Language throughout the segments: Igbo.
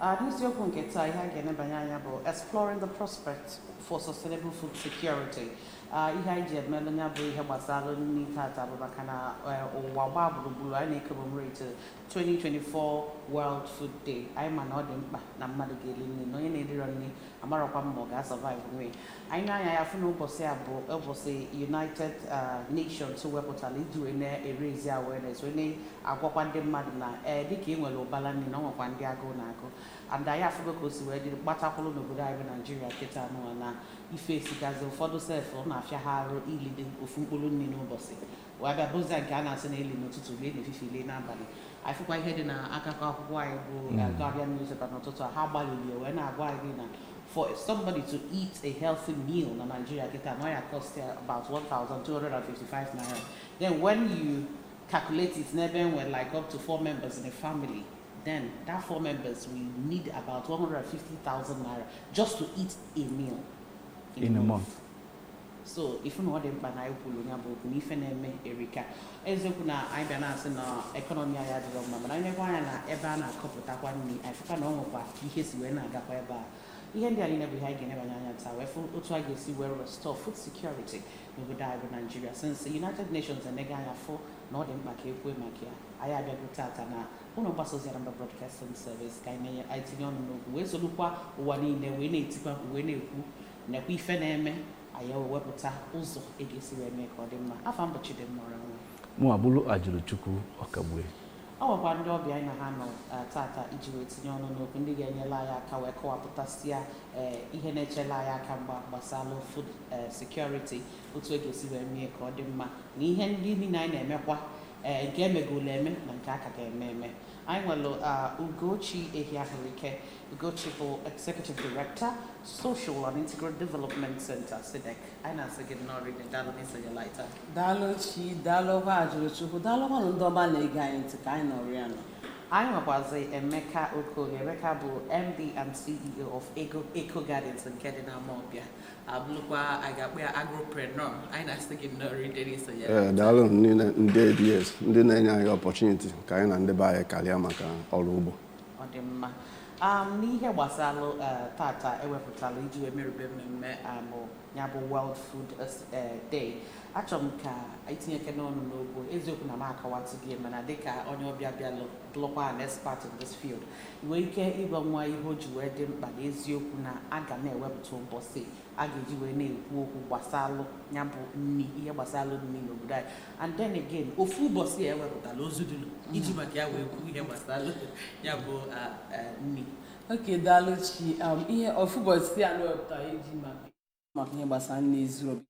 Uh, n'isiokwu nke taa ihe a ga-enebanye anya bụ exploring the prospect for sustainable food security uh, ihe anyị ji emelụ ya bụ ihe gbasara nri tata bụ maka na uh, ụwa gbaa gburugburu anyị na-ecommemorate 2024 World Food Day anyị ma na ọ dị mkpa na mmadụ ga-eri nri na onye na-erirọ nri amarọkwa m ma ọ ga-asurvive nwu anyị nee anya anyị afụ na ụbọchị a bụ ụbọchị united uh, nations wepụtara iji wee na-eraise awareness wee na-agwakwa ndị mmadụ na ee eh, dịka e nwere ụbala nri na ọ nwekwa ndị agụụ na-agụ and anyị afụgo ka o si wee dị gbatakwụrụ n'obodo anyị bụ Nigeria kịta nụwa na ife esigazi ụfọdụ sef ọ na-afịa ha arụ ilide ofu mkpụrụ nri n'ụbọchị wee bịa bụzịa nke a na-asị na eli n'ụtụtụ lie n'efifie lie n'abalị anyị fụkwa ihe dị na akụkọ akwụkwọ anyị bụ uh, Guardian newspaper n'ụtụtụ a ha gbalịlị wee na-agwa anyị na for somebody to eat a healthy meal na Nigeria kịta na ya cost ya about 1,255 naira then when you calculate it n'ebe e nwere like up to four members in a family then that four members will need about 150,000 naira just to eat a meal in a month. so ị fụ na ọ dị mkpa na anyị kwuru ya bụ okwu na ife na-eme erika eziokwu na anyị bịa na-asị na ekọnọmi anyị adịrọ mma mana anyị nekwa anya na ebe a na-akọpụtakwa nri anyị fụkwa na ọ nwekwa ka ihe si wee na-agakwa ebe a ihe ndị a niile bụ ihe anyị ga-enebanye anya taa wee fụ otu a ga-esi wee restore food security n'obodo anyị bụ Nigeria since united nations enego anya fụ na ọ dị mkpa ka e kwue maka ya anyị abịago tata na ụlọ mgbasa ozi Anambra Broadcasting Service ka anyị na-enye anyị tinye ọnụ n'okwu wee solukwa ụwa niile wee na-etikwa mkpu wee na-ekwu nekwa ife na-eme anyị ewee wepụta ụzọ e ga-esi wee mee ka ọ dị mma afa m bụ Chidimma Orangwa mụ abụrụ Ajụlụchukwu Okagbue anyị nwekwa ndị ọbịa anyị na ha nọ eh, tata iji wee tinye ọnụ n'okwu ndị ga-enyela anyị aka wee kọwapụtasịa eh, ihe na-echela anyị aka mgba gbasara food eh, security otu e ga-esi wee mee ka ọ dị mma na ihe ndị niile anyị na-emekwa nke e megolu eme na nke a ka ga-eme eme Anyị nwere uh, Ugochi Ehiahuruike Ugochi bụ Executive Director Social and Integral Development Center SIDEC anyị na-asị gị nnọọ rinne daalụ n'isonyela anyị taa daalụ Chi daalụkwa Ajụlụchukwu daalụkwanụ ndị ọma na-ege anyị ntị ka anyị nọrọ ya nọ anyị nwekwazi Emeka Okoye Emeka bụ MD and CEO of Eco Gardens nke dị n'Amawbịa abụrụkwa a ga-akpọ ya agropreneur anyị na-asị gị nnọọ rinne n'isonye ee daalụnụ ndị ABS ndị na-enye anyị opportunity ka anyị na ndị be anyị karịa maka ọrụ ugbo ọ dị mma um, n'ihe gbasara uh, tata e wepụtalụ iji wee merube mmemme um ya bụ World Food uh, Day achọrọ m ka ị tinyekene ọnụ n'okwu eziokwu na m akọwatụ gị mana dịka onye ọbịa bịalụ bụrụkwa an expert in this field nwee ike ịgwa nwa ihe o ji wee dị mkpa na eziokwu na a ga na-ewepụta ụbọchị a ga-eji wee na-ekwu okwu gbasalụ ya bụ nri ihe gbasalụ nri n'obodo anyị and then again ofu ụbọchị a ewepụtala o zudulu iji mm. maka ya wee kwuo ihe gbasalụ ya bụ nri okay daalụ chi um, ihe ofu ụbọchị a na-ewepụta iji maka maka ihe gbasara nri zuru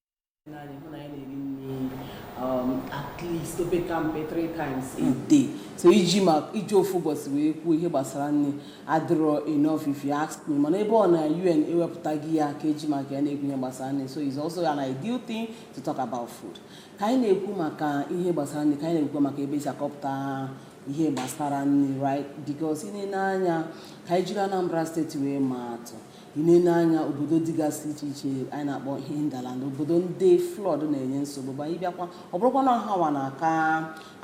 ebe anyị hụ na anyị na-eri nri um, at least opekampe three times a day so iji ma iji ofu ụbọchị wee kwuo ihe gbasara nri adịrọ enough if you ask me mana ebe ọ na UN ewepụtago ya ka e ji maka ya na-ekwu ihe gbasara nri so it's also an ideal thing to talk about food ka anyị na-ekwu maka ihe gbasara nri ka anyị na-ekwu maka ebe e si akọpụta ihe gbasara nri right because ị na-ele anya ka anyị jiri anambra steeti wee maa atụ ị na-ele anya obodo dịgasị iche iche anyị na-akpọ hinterland obodo ndị flood na-enye nsogbu but ị bịakwa ọ bụrụkwa na ọ ha nwa na-aka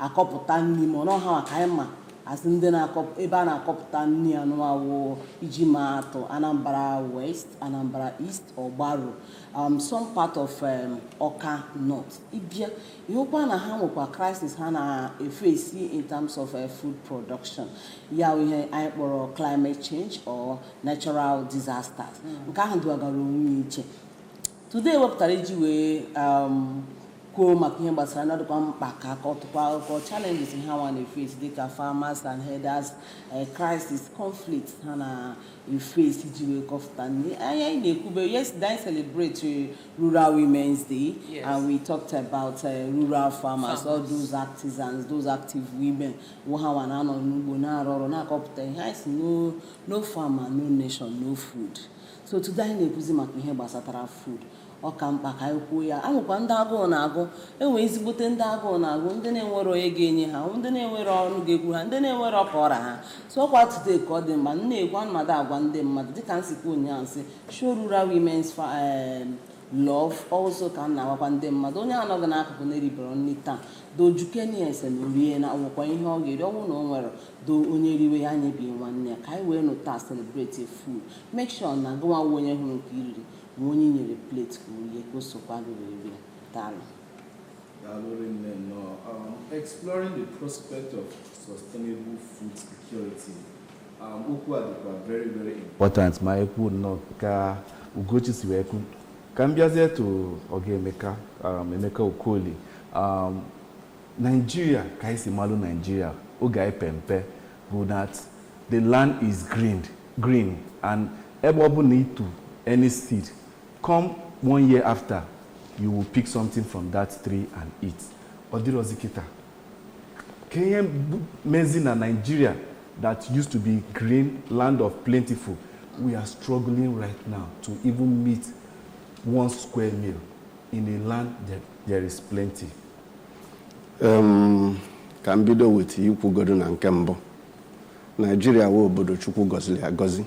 akọpụta nri ma ọ na ọ ha nwa ka anyị ma as ndị na-akọpụ ebe a na-akọpụta nri anụwa wụ iji ma atụ anambra west anambra east ọgbaru um, some part of um, ọka north ị bịa ị hụkwa na ha nwekwa crisis ha na-efesi in terms of uh, food production ya wụ ihe anyị kpọrọ climate change or natural disasters hmm. nke ahụ dịwagara onwe ya iche today wepụtara iji wee um, kwuo maka ihe gbasara nri ọ dịkwa mkpa ka a kọtụkwa akụkọ challenges ha nwa na-efesi dịka farmers and herders eh, crisis conflict ha na face iji wee kọpụta nri anyị na-ekwube yesterday anyị celebrate rural women's day yes. and we talked about uh, rural farmers, farmers all those artisans those active women wụ ha nwa na-anọ n'ugbo na-arụ ọrụ na-akọpụta ihe anyị sị no farmer no nation no food so today anyị na-ekwuzi maka ihe gbasatara food ọ ka mkpa ka anyị kwuo ya e nwekwa ndị agụụ na-agụ e nwee ezigbote ndị agụụ na-agụ ndị na-enwerọ onye ga-enye ha ndị na-enwerọ ọnụ ga-ekwu ha ndị na-enwerọ ka ọ ra ha so ọ kwa today ka ọ dị mma m na-ekwu mmadụ agwa ndị mmadụ dịka m si kwuo ụnyaahụ sị show rural women's fa- em, love also ka m na-agwakwa ndị mmadụ onye a nọ gị n'akụkụ na-eriberọ nri taa do jụkenie ya sị na o rie na o nwekwa ihe ọ ga-eri ọ wụ na o nwerọ do onye riwe ya nyebi nwanne ya ka anyị wee nọ taa celebrate food make sure na gị nwa wụ onye hụrụ nke i riri nwee onye i nyere plate ka o rie ka o sokwa gị wee rie daalụ Daalụ rinne nnọọ. Um, Exploring the prospect of sustainable food security Okwu a dịkwa very very important ma e kwuo nnọọ ka Ugochi si wee kwu ka m bịazie to Oga Emeka um, Emeka Okoli um, Nigeria ka anyị si malụ Nigeria oge anyị pe mpe bụ that the land is green green and ebe ọbụna ị tụ any seed come one year after you will pick something from that tree and eat ọ dịrọzi kịta kee ihe mezi na Nigeria that used to be green land of plentiful we are struggling right now to even meet one square meal in a land that there is plenty. Um, ka m bido with ikwugodu na nke mbụ Nigeria wụ obodo Chukwu gọziri agọzi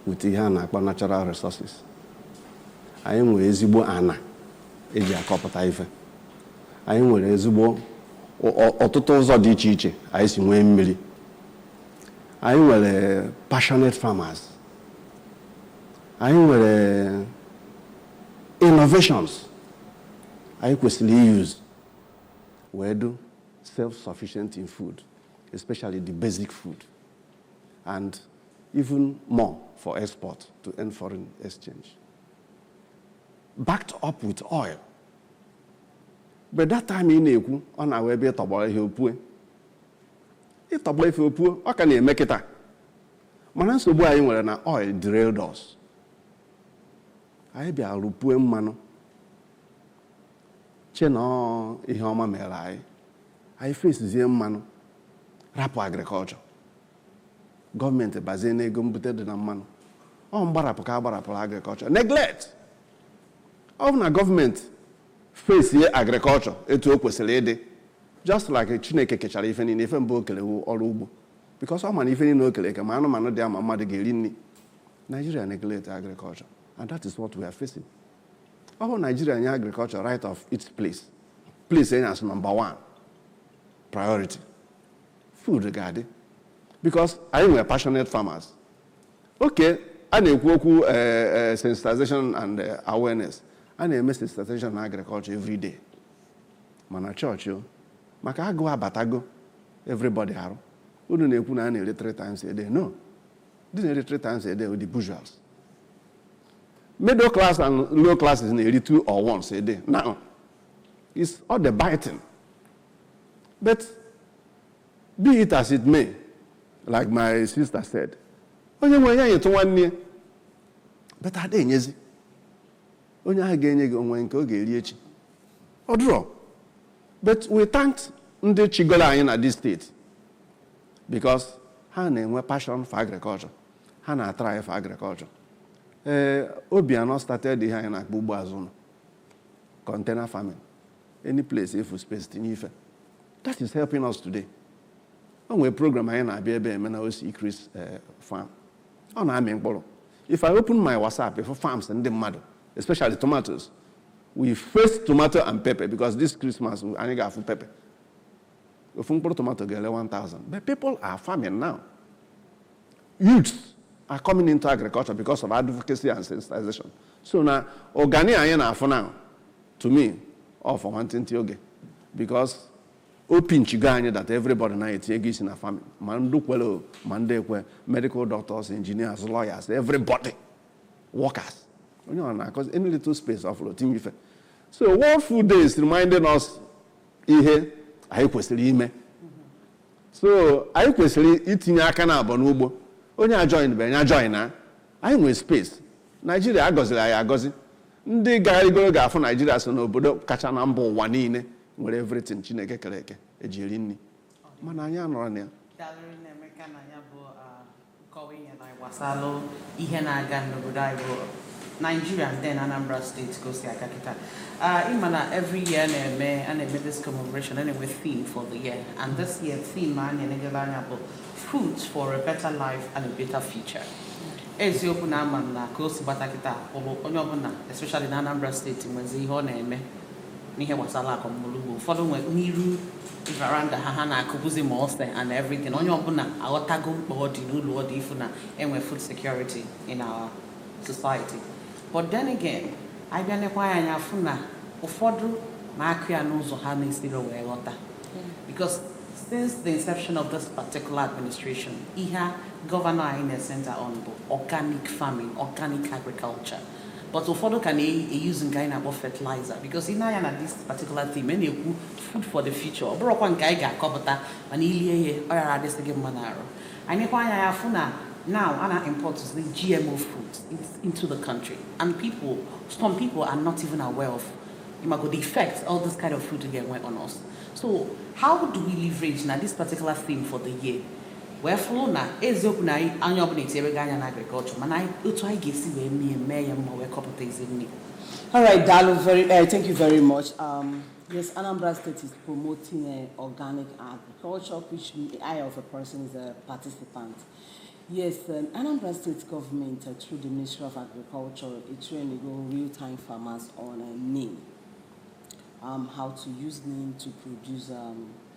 with ihe a na-akpọ natural resources anyị nwere ezigbo ana e ji akọpụta ife anyị nwere ezigbo ọ- ọ- ọtụtụ ụzọ dị iche iche anyị si nwee mmiri anyị nwere passionate farmers anyị nwere innovations anyị kwesịrị iuse wee dụ self-sufficient in food especially the basic food and even more for export to earn foreign exchange backed up with oil but that time ị na-ekwu ọ na-awụ ebe ị tọgbọ ihe o pue ị tọgbọ ife o pue ọ ka na-eme kịta mana nsogbu anyị nwere na oil derailed us anyị bịa rụpue mmanụ che na ọ ihe ọma mere anyị anyị fesizie mmanụ rapụ agriculture gọọmenti bazie n'ego mbute dị na mmanụ ọ mgbarapụ ka a gbarapụrụ agriculture neglect Ọ bụ na gọọmenti fesie agriculture etu o kwesịrị ịdị just like Chineke kechara ife niile ife mbụ o kere wụ ọrụ ugbo because ọ ma na ife niile o kere eke ma anụmanụ dị ya ma mmadụ ga-eri nri Nigeria neglect agriculture and that is what we are facing. Ọ bụ Nigeria nye agriculture right of its place place ya as number one priority food ga-adị because anyị nwere passionate farmers okay a na-ekwu okwu eh, eh, sensitization and eh, awareness a na-eme sensitization na agriculture every day ma na chọọchị o maka agụụ abatago everybody arụ unu na-ekwu na a na-eri three times a day no ndị na-eri three times a day wụ the bourgeois middle class and low classes na-eri two or once a day now it's all the biting but Be it as it may, like my sister said, onye nwee ya nyetụ nwanne ya but a da enyezi onye ahụ ga-enye gị o nwe nke ọ ga-eri echi ọ dụrọ but we thank ndị chịgoro anyị na this state because ha na-enwe passion for agriculture ha na-atry for agriculture ee Obiano started ihe anyị na-akpọ ugbo azụ ụnọ container farming any place ị fụ space tinye ife that is helping us today o nwere program anyị na-abịa ebe eme na osi Chris eh, farm ọ na-amị mkpụrụ if I open my WhatsApp ị fụ farms ndị mmadụ especially tomatoes we face tomato and pepper because this Christmas anyị ga-afụ pepper ofu mkpụrụ tomato ga-ele 1000 but people are farming now youths are coming into agriculture because of advocacy and sensitization so na organic anyị na-afụ now to me ọ for nwantịntị oge because o pinchigo anyị that everybody na etinyego isi na farming ma ndị kwere o, ma ndị ekwe medical doctors engineers lawyers everybody workers onye ọ na-akọzi any little space ọ fụrụ o tinye ife so world food day is reminding us ihe anyị kwesịrị ime so anyị kwesịrị itinye aka naabọ n'ugbo onye ajoin be nya join na anyị nwere space naijiria agọziri anyị agọzi ndị gagharịgoro ga-afụ naijiria so n'obodo kacha na mba ụwa niile nwere everything chineke kere eke eji eri nri mana anyị anọrọ na ya Daalụ rinne i meka na ya bụ ah, Nkọwa ihe na gbasalụ ihe na-aga n'obodo anyị bụ Nigeria and then Anambra State ka o si aga kịta ị ma na every year na-eme a na-eme this commemoration a na-enwe theme for the year and this year theme a na-enegala anya bụ food for a better life and a better future eziokwu na ama m na ka o si gbata kịta ụlụ onye ọbụla especially na Anambra State nwezi ihe ọ na-eme n'ihe gbasara akọm ọlụ ugbo ụfọdụ nwe n'iru veranda ha ha na-akụbuzi ma ose and everything onye ọbụla aghọtago mkpa ọ dị n'ulu ọ dị ịfụ na e nwee food security in our society but then again anyị bịa nekwa ya anya fụ na ụfọdụ na-akụ ya n'ụzọ ha na-esirọ wee ghọta because since the inception of this particular administration ihe gọvanọ anyị na-ecenter on bụ organic farming organic agriculture but ụfọdụ ka na-euse nke anyị na-akpọ fertilizer because i nee anya na this particular theme a na-ekwu food for the future ọ bụrụkwa nke anyị ga-akọpụta mana i lie ihe ọ yara adịsị gị mma n'arụ anyị nekwa anya ya fụ na now a na-import the GMO food into the country and people some people are not even aware of ị mago the effects all this kind of food ga-enwe on us so how do we leverage na this particular theme for the year wee fụrụ na eziokwu na onye ọbụla etinyere gị anya na agriculture mana otu anyị ga-esi wee mee mee ya mma wee kọpụta ezi nri All right, Daalụ, very, uh, thank you very much. Um, yes, Anambra State is promoting uh, organic agriculture, which I, as a person, is a participant. Yes, um, Anambra State government, uh, through the Ministry of Agriculture, is training real-time farmers on a uh neem, um, how to use neem to produce um,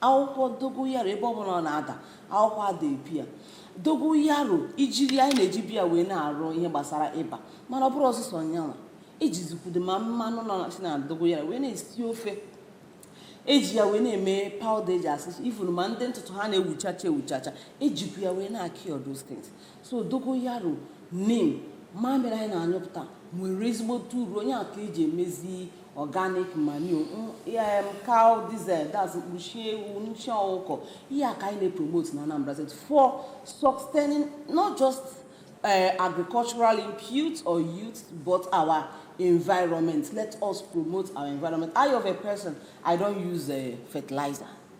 akwụkwọ dogoyaro ebe ọbụla ọ na-ada akwụkwọ ada epu ya dogoyaro ijiri anyị na-eji bịa wee na-arụ ihe gbasara ịba mana ọ bụrọ sọsọ nyanwa ejizikwudo ma mmanụ nọ na- si na dogoyaro wee na-esi ofe eji ya wee na-eme powder eji asa isi even ma ndị ntutu ha na-ewuchacha ewuchacha ejikwu ya wee na-akị all those things so dogoyaro neem mamịrị anyị na-anyụpụta nwere ezigbote uru onye aka eji emezi organic manure m cow this thing that's nshị ewu nshị ọkụkọ ihe a ka anyị na-epromote na Anambra State for sustaining not just uh, agricultural input or youth but our environment let us promote our environment I of a person I don't use uh, fertilizer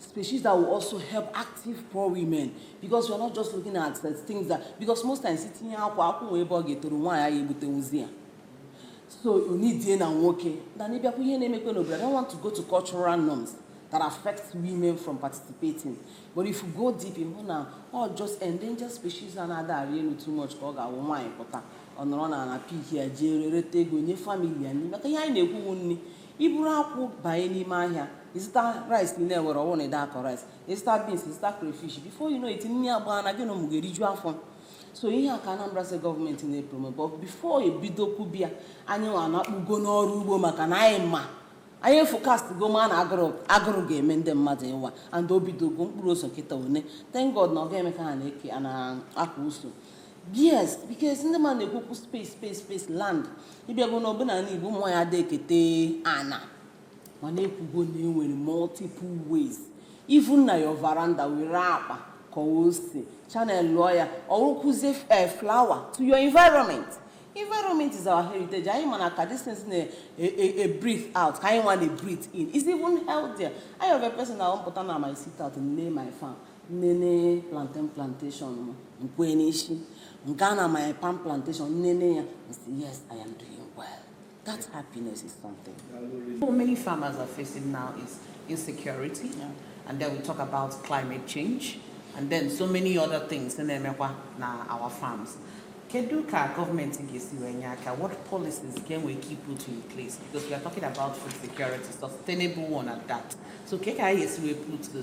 species that will also help active poor women because we are not just looking at the things that because most times itinyekwa akwụ nwee ebe ọ ga-etoru nwaanyị anyị egbutezi ya so onidie na nwoke na n'ịbịakwa ihe na-emekwa n'obodo I don't want to go to cultural norms that affect women from participating. But if you go deep ị hụ na all those endangered species anaghị arị elu too much ka ọ ga-awụ nwaanyị pụta ọ nọrọ n'ana pick ya jee rereta ego nye family ya nri maka ihe anyị na-ekwu nri iburu akwụ banye n'ime ahịa ịzụta rice in area where ọ wụ na adị akọ rice ịzụta beans ịzụta crayfish before you know it nri agbaa na gị na ụmụ gị eriju afọ so ihe a ka Anambra State gọọmenti na-epromote but before ebido kwube ya anyị nwa na-akpụgo n'ọrụ ugbo maka na anyị ma anyị eforecastgo ma na agụrụ agụrụ ga-eme ndị mmadụ ịwa and o bidogo mkpụrụ ose kịta one thank God na ọ ga-eme ka ha na-eke a na-akwa uso yes because ndị mmadụ na-ekwukwu space space space land ịbịago na ọbụla na igbo nwaanyị adị ekete ana mana ekwugo na enwere multiple ways even na your veranda were akpa ka o si chanel lụọ ya ọ wụkwuzie eh, flower to your environment environment is our heritage anyị ma na ka this things na-breathe out ka anyị nwa na-breathe in is even healthier I of a person na mpụta na my sit out m lee my farm nnene plantain plantation m nkwe n'isi nke a na my palm plantation nnene ya nsi yes i am doing well that happiness is something What many farmers are facing now is insecurity, Yeah. and then we talk about climate change, and then so many other things in Emekwa na our farms. Kedu ka government ga-esi wee nye aka? What policies can we keep put in place? Because we are talking about food security, sustainable one at that. So ke ka anyị ga-esi wee put the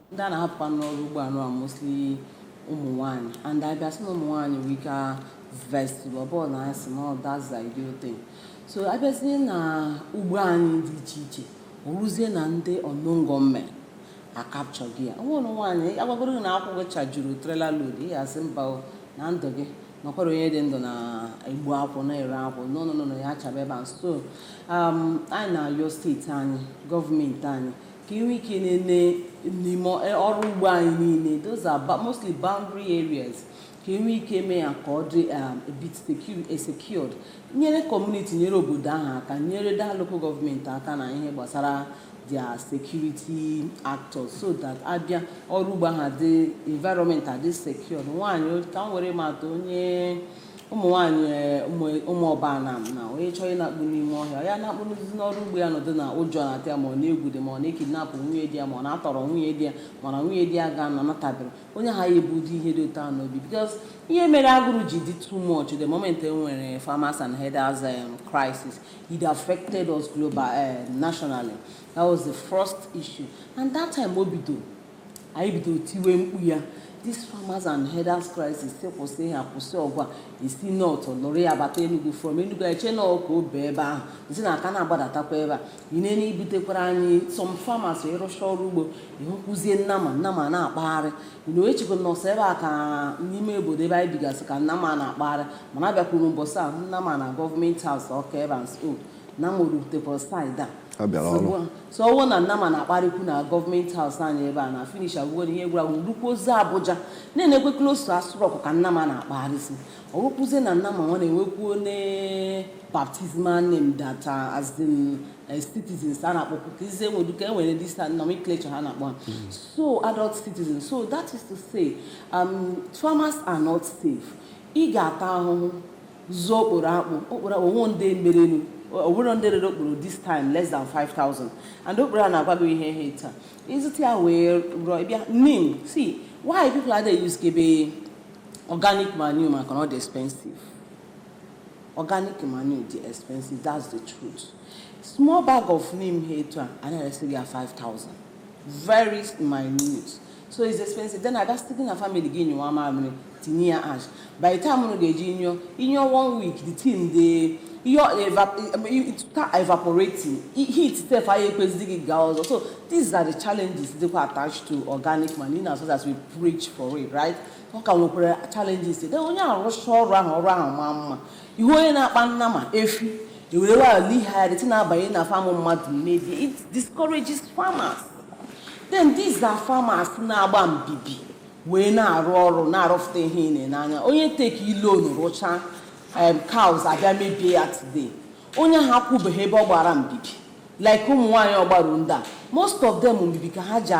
ndị a na-ahapụkwa n'ọrụ ugbo anụ a mostly ụmụ nwaanyị and abịa sị na ụmụ nwaanyị nwere ike vest ọbụla na asị na that's the ideal thing so abịazie na ugbo anyị dị iche iche ọ wụzie na ndị unknown gunmen acapturego ya onwere nwaanyị agwagoro na akwụ chajuru trailer load ya sị mba na ndụ gị na ọ kwa onye dị ndụ na-egbu akwụ na-ere akwụ n'ọnụnụ na ya chaba ebe a so um, anyị na-ayọ steeti anyị gọọmenti anyị ka inwe ike na-ene n'ime e, ọrụ ugbo anyị niile those are mostly boundary areas ka inwe ike mee ya ka ọ dị um, a bit e, secured nyere kọmuniti nyere obodo ahụ aka nyere their local gọọmenti aka na ihe gbasara their security actors so that abịa ọrụ ugbo ha dị environment adị secured nwaanyị ka m were mata onye ụmụ nwaanyị eh, ụmụ Ụmụọba Anam na onye chọrọ ịna-akpụ n'ime ọhịa ya na-akpụ n'ụzụ n'ọrụ ugbo ya nọdụ na ụjọ na-atụ ya ma ọ na-egwu dị ma a na-ekidnap nwunye di ya ma a na-atọrọ nwunye di ya mana nwunye di ya ga na natabere onye ahụ ya-ebu ụdị ihe dị otu ahụ n'obi because ihe mere agụrụ ji dị too much the moment e nwere farmers and herders um, crisis it affected us global eh, nationally that was the first issue and that time o bidoro anyị bido tiwe mkpu ya this farmers and herders crisis sị kwụsị ha kwụsị ọgwa e si north lụrụ ya bata Enugu from Enugu e che na ọka obe ebe ahụ isi na aka na-agbadatakwa ebe a i nee na e butekwara anyị some farmers ị rụcha ọrụ ugbo ị hụkwuzie nnama nnama na-akpagharị ị nọ echekwa na ọ sọ ebe a ka n'ime obodo ebe anyị bigasị ka nnama na-akpagharị mana abịakwuru mbọsị a nnama na government house Ọka ebe a nso na m rutekwa side A bịara ọrụ. so ọ wụ na nnama na-akpagharịkwu na government house anyị ebe a na finish agwụgo na ihe gwụrụ agwụ rukwuozi Abuja na-enekwe close to Aso Rock ka nnama na-akpagharịsị ọ wụkwụzie na nnama nwa na-enwekwuo ne baptismal name that uh, as in uh, citizens a na-akpọkwu ka ize nwedu ka e nwere this nomenclature ha na-akpọ ha. so adult citizens so that is to say um, farmers are not safe ị ga-ata ahụhụ zụọ okporo akpụ okporo akpụ o nwe ndị merenụ o nwere ndị rere okporo this time less than 5000 and okporo a na-agwa gị ihe ha etu a ị zụta ya wee rụọ ị bịa nim si why people adị e-usekebe organic manure maka na ọ dị expensive organic manure dị expensive that's the truth small bag of neem ha etu a a na-eresi gị ya 5000 very minute so it's expensive then a ga-asị gị na family gị nyụwa mamịrị tinye ya ash by the time unu ga-eji nyụọ ị nyụọ one week the thing dey ihe ọ eva- it start evaporating I- heat sef aya ekwezighi gị gaa ọzọ so these are the challenges dịkwa attached to organic manure in as much as we preach for it right ọ ka nwekwara challenges then onye ahụ rụcha ọrụ ahụ ọrụ ahụ maa mma Ị hụ onye na-akpa nnama efi ewere waya lihari ti na-abanye na farm mmadụ mebie it discourages farmers then these are farmers na-agba mbibi wee na-arụ ọrụ na-arụfụta ihe ị na-ene anya onye take loan rụchaa um, cows abịa mebie ya today onye ahụ akwụbeghị ebe ọ gbara mbibi like ụmụ nwaanyị Ọgbaru ndị a most of them mbibi ka ha ji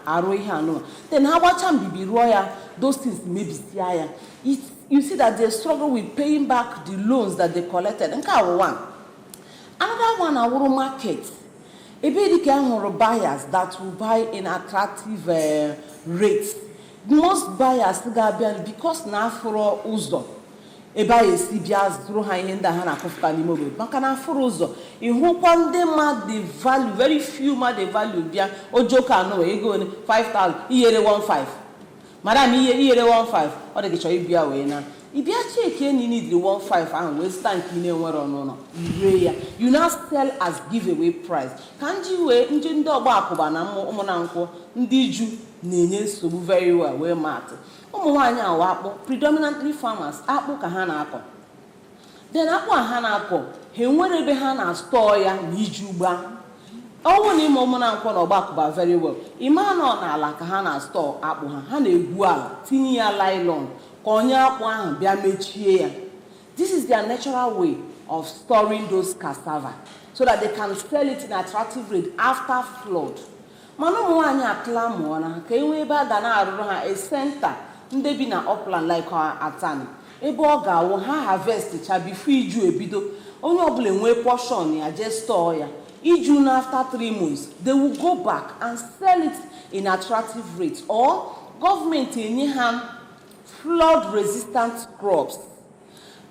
arụ ihe anụwa then ha gbachaa mbibi rụọ ya those things mebisia ya it's you see that they struggle with paying back the loans that they collected nke a wụ one another one a wụrụ market ebe dị ka a hụrụ buyers that will buy in attractive uh, rates most buyers ga-abịa because na afụrọ ụzọ ebe a ya-esi bịa zụrụ ha ihe ndị ha na-akụfụta n'ime obodo maka na afụrọ ụzọ ị hụkwa ndị ma the value very few ma the value bịa ojoko anụwa i goo 5000 ị ya-ere 15 madam ihe iyere 15 ọ dị gị chọrọ ịbịa wee na ị bịa chekie na ị nidiri 15 ahụ wee zụta nke ị na-enwere n'ụnọ i ree ya you now sell as giveaway price ka m ji wee m ji ndị ọgbakụba na ụmụnankwọ ndị iju na-enye nsogbu very well wee maa atụ ụmụ nwaanyị awa akpụ predominantly farmers akpụ ka ha na-akọ then akpụ a ha na-akọ ha enwere ebe ha na-astọọ ya na iju gbaa ọ wụ na ị ma ụmụnankwọ na ọgbakụba very well ị ma na ọ n'ala ka ha na-astọọ akpụ ha ha na-egwu ala tinye ya nylon kpọnye akpụ ahụ bịa mechie ya this is their natural way of storing those cassava so that they can sell it in attractive rate after flood mana ụmụ nwaanyị a clamour na ka e nwee ebe a ga na-arụrụ ha a center ndị bi na upland like atani ebe ọ ga-awụ ha harvest cha before iju ebido onye ọbụla enwee portion ya jee store ya iju naa after three months they will go back and sell it in attractive rate or gọọmenti enye ha flood resistant crops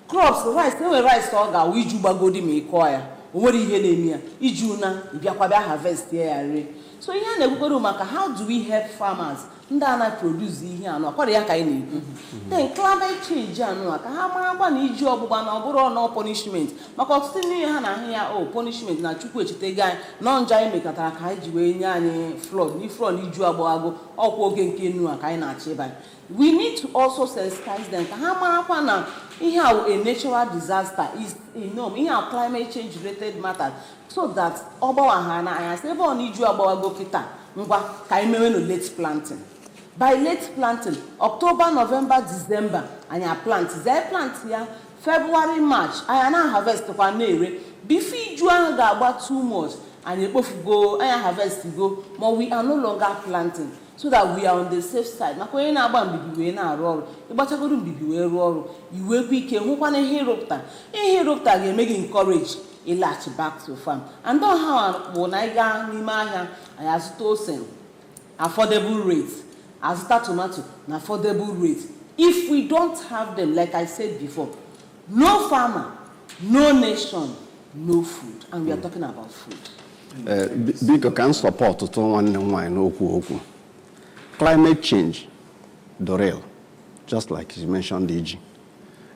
crops rice na e nwere rice ọ ga-awụ iju gbagodi ma ị kụọ ya o nwere ihe na-eme ya iju naa ị bịakwa bịa harvest ya ya rie so ihe a na-ekwukwere maka how do we help farmers ndị a na-produce ihe anụ akwara ya ka anyị na-ekwu then climate change anụ a ka ha marakwa na iji ọgbụgba na ọ bụrọ na ọ punishment maka ọtụtụ n'ime ha na-ahụ ya ọ punishment na chukwu echetego anyị na ọ njọ anyị mekọtara ka o ji wee nye anyị flood na flood iju agbaghago ọkwa oge nke nnu a ka anyị na-achọ ịba We need to also sensitize them ka ha marakwa na ihe a wụ a natural disaster is inom ihe a climate change related matters so that ọ gbawa ha n'anya sị ebe ọ na iju agbawago kịta ngwa ka anyị mewenụ late planting by late planting october november december anyị plant zie plant ya february march anyị na harvest kwa na-ere before iju ahụ ga-agba too much anyị ekpofugo anyị harvest go ma we are no longer planting so that we are on the safe side maka onye na-agba mbibi wee na-arụ ọrụ ị gbachagodu mbibi wee rụọ ọrụ i nwekwaa ike hụkwanụ ihe ị rụpụta ihe ị rụpụta ga-eme gị encourage ịlaghachi back to farm and ọ ha bụ na anyị gaa n'ime ahịa anyị azụta ose affordable rate azụta tomato na affordable rate if we don't have them like i said before no farmer no nation no food and we are talking about food Ee, bi- biko ka m sọpọtụtụ nwanne m nwaanyị n'okwu o kwu climate change dị real just like you mentioned iji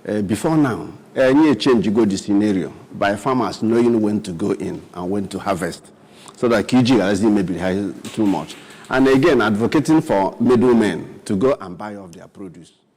Eh, before now anyị echenjigo the scenario by farmers knowing when to go in and when to harvest so that ka iji gharazi imebiri ha too much and again advocating for middlemen to go and buy off their produce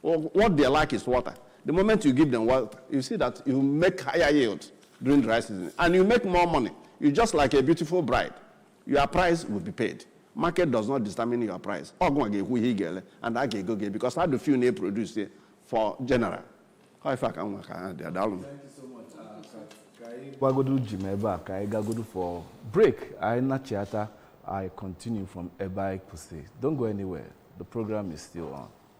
Well, what they lack is water. The moment you give them water, you see that you make higher yield during dry season and you make more money. You're just like a beautiful bride. Your price will be paid. Market does not determine your price. Ọ gị nwa ga-ekwu ihe ị ga-ele and a ga-ego gị because ha dị few na-eproduce ya for general. How ife aka nwa ka ha dị adalụ m. gbagodo ji m ebe a ka anyị gagodo for break anyị nachiata anyị continue from ebe anyị kwụsị don't go anywhere the program is still on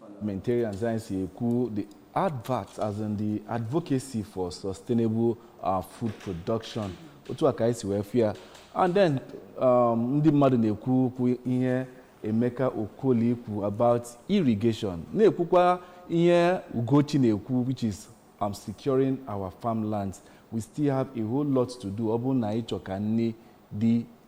parliamentarians anyị si ekwu the advert as in the advocacy for sustainable uh, food production otu a ka anyị si wee fụ ya and then um, ndị mmadụ na-ekwu okwu ihe Emeka Okoli kwu about irrigation na-ekwukwa ihe Ugochi na-ekwu which is um, securing our farmlands we still have a whole lot to do ọ bụrụ na anyị chọ ka nri dị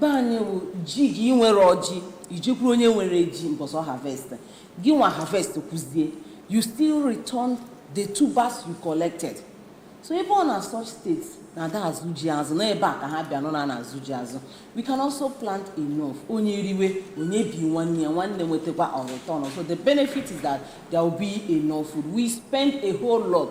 be anyị wụ ji gị ị nwerọ ji i jekwuru onye nwere ji mbọsị ọ harvest gị nwa harvest kwụzie you still return the tubers you collected so even na such states na-ada azụ ji azụ na ebe a ka ha bịa nọ na na-azụ ji azụ we can also plant enough onye riwe onye bi nwanne ya nwanne nwetakwa on return so the benefit is that there will be enough food we spend a whole lot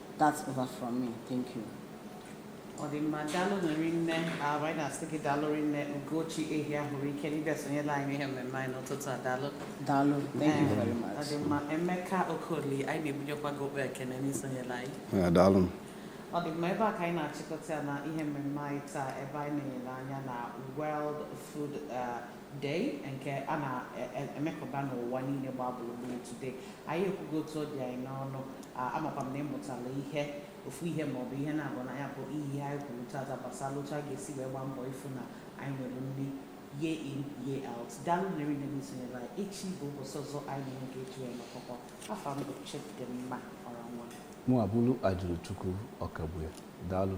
That's over from me. Thank you. ọ dị mma daalụ rinne ah anyị na-asị gị daalụ rinne Ugochi Ehiahuruike na ịbịa sonyela anyị n'ihe mmemme anyị n'ụtụtụ a daalụ Daalụ, thank you very much. Ọ dị mma Emeka Okoli anyị na-ebunyekwa gị okpe ekene n'isonyela anyị Ya, daalụ m. ọ dị mma ebe a ka anyị na-achịkọta ya na ihe mmemme anyị taa ebe anyị na-ele anya na World Food uh, Day nke a na-emekọba n'ụwa niile gbaa gburugburu today. Anyị ekwugo otu ọ dị anyị n'ọnụ. Ah, Amakwa m na ị mụtala ihe ofu ihe maọbụ ihe naabọ na ya bụ ihe anyị kwuru tata gbasara otu a ga-esi wee gbaa mbọ ịfụ na anyị nwere nri year in year out. Daalụ nụ rinne na isonyere anyị. Echi bụ ụbọchị ọzọ anyị na-enwekwa eji wee nọkọkọ. Afa m bụ Chidimma Ọranwa. mụ abụrụ Ajụrụchukwu Ọkagbue daalụ